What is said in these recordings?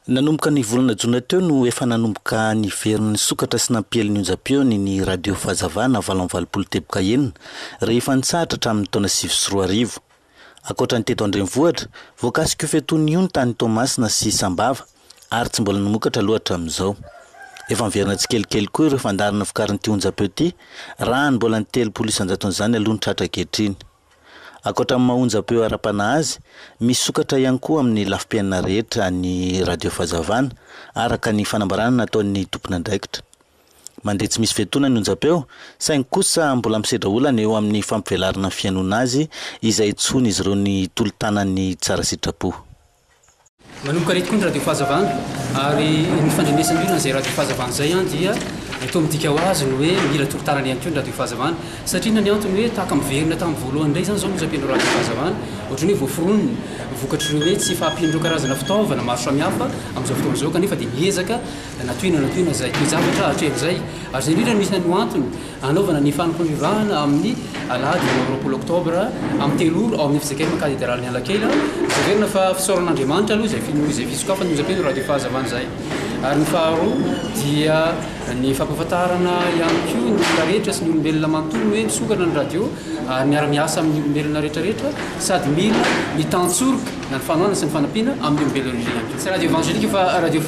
Nanomboka ny volana jona teo no efa nanomboka niverin'ny sokatra sy nampiely ny onjam-peony ny Radio Fahazavana valo amby valopolo teboka enina rehefa nitsahatra hatramin'ny taona sivy sy roa arivo. Ankoatra ny teto an-drenivohitra, voakasik'io fetony io ny tany Toamasina sy Sambava ary tsy mbola namokatra aloha hatramin'izao. Efa miverina tsikelikely koa ireo fandaharana vokarin'ity onjam-peo ity raha ny mbola ny telopolo isan-jaton'izany aloha ny tratra ankehitriny. Ankoatra amin'ny maha-onjam-peo ara-panahy azy, misokatra ihany koa amin'ny lafim-piainana rehetra ny Radio Fahazavana, araka ny fanambarana nataon'ny tompon'andraikitra. Mandeha tsy misy fiatoana ny onjam-peo, saingy kosa mbola misedra olana eo amin'ny fampivelarana ny fihainoana azy izay hitsohin'izy ireo ny tolo-tanan'ny tsara sitrapo. Manomboka ireto koa ny Radio Fahazavana ary ny fandrenesan'olona izay Radio Fahazavana izay dia toa midika ho azy ny hoe mila tolo-tanana ihany koa ny Radio Fahazavana satria inona ny antony hoe tahaka miverina tamin'ny voalohany indray izany izao ny onjam-pen'ireo Radio Fahazavana ohatran'ny hoe voaforonina vokatr'ireo hoe tsy fahampian'ireo karazana fitaovana maro samihafa amin'izao fotoana izao kanefa dia miezaka Natohina natohina izay toe-javatra hatremin'izay ary izay indrindra no isan'ny ho antony hanaovana ny fanapariahana amin'ny alahady valo amby roapolo oktobra amin'ny telo ora ao amin'ny fizakem katederalin'i Analakely. Azo heverina fa fisaoran'Andriamanitra aloha izay noho izay fisokafana izay teo raha dia fahazavana izay ary ny faharoa dia ny fampahafantarana ihany koa ny olona rehetra sy ny olombelona manontolo hoe misokatra ny radio ary miara-miasa amin'ny olombelona rehetrarehetra sady mila ny tantsoroka na ny fanohanana sy ny fanampiana amin'ny olombelona indray ihany koa. Tsy radio evangelika fa radio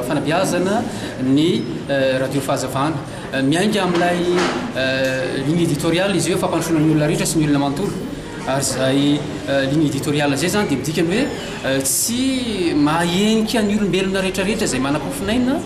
fanabeazana ny radio fahazavana. Miainga amin'ilay ligne editoriale izy hoe fampandrosoana ny olona rehetra sy ny olona manontolo. Ary izay ligne editoriale izay izany dia midika ny hoe tsy mahahenika ny olombelona rehetrarehetra izay manam-pofon'aina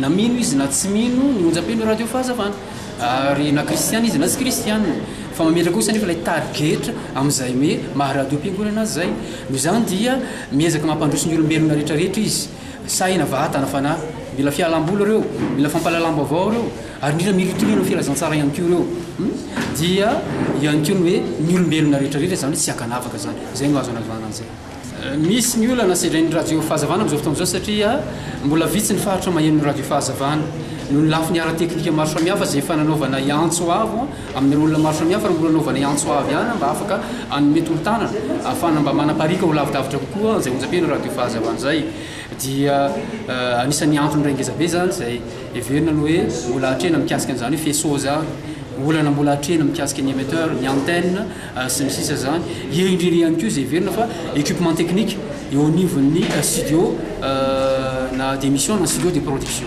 na mino izy na tsy mino ny onjam-peno radio fahazavana. Ary na kristiana izy na tsy kristiana. Fa mametraka kosa anefa ilay target amin'izay hoe maha radiom-piangonana azy izay. Noho izany dia miezaka mampandroso ny olombelona rehetrarehetra izy. Sahy na vata na fanahy. Mila fialam-boly ireo, mila fampahalalam-baovao ireo, ary indrindra mila itoriana ny filazantsara ihany koa ireo. Dia eo ihany koa ny hoe ny olombelona rehetrarehetra izany tsy ankanavaka izany. Izay no azo anavahana an'izay. Misy ny olana sedrain'ny Radio Fahazavana amin'izao fotoana izao satria mbola vitsy ny faritra mahenin'ny Radio Fahazavana. Noho ny lafiny ara-teknika maro samihafa izay efa nanaovana antso avo amin'ireo olona maro samihafa ary mbola hanaovana antso avo ihany mba afaka hanome tolo-tanana ahafahana mba manapariaka ho lavidavitra kokoa izay onjam-peo ny Radio Fahazavana izay dia anisan'ny antony iray ngeza be izany izay heverina ny hoe mbola hatrena mikasika an'izany hoe faisceau izany, olana mbola hatrena mikasika ny émetteur, ny antenne, sy ny sisa izany. Eo indrindra ihany koa izay heverina fa equipement technique eo anivon'ny studio na d'émission na studio de production.